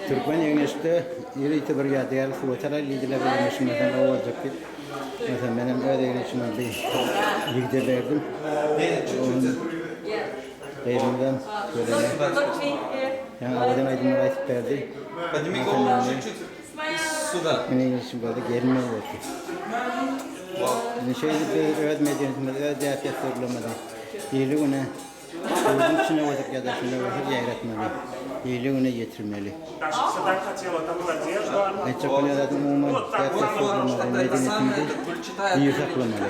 Türkmen egneşde ýörite bir ýadygärlik suwa çalaý diýdiler, egneşim näsem owaljakdy. Onsoň menem öz egneşime bir ligde berdim. Gyzymdan görende ýa owadan aýdymlar aýdyp berdi. Türkmen egneşim boldy, gelinem boldy. Indi şeýdip biz öz medeniýetimizi, öz däp-dessurlarymyzy ýyly-güne Özüň içine wajyk ýadaşyna wajyk ýaýratmaly. Beýle güne ýetirmeli. Aýtjak bolýan zadyň umuman däp dessur bolmaly, medeniýetimizi diri saklamaly.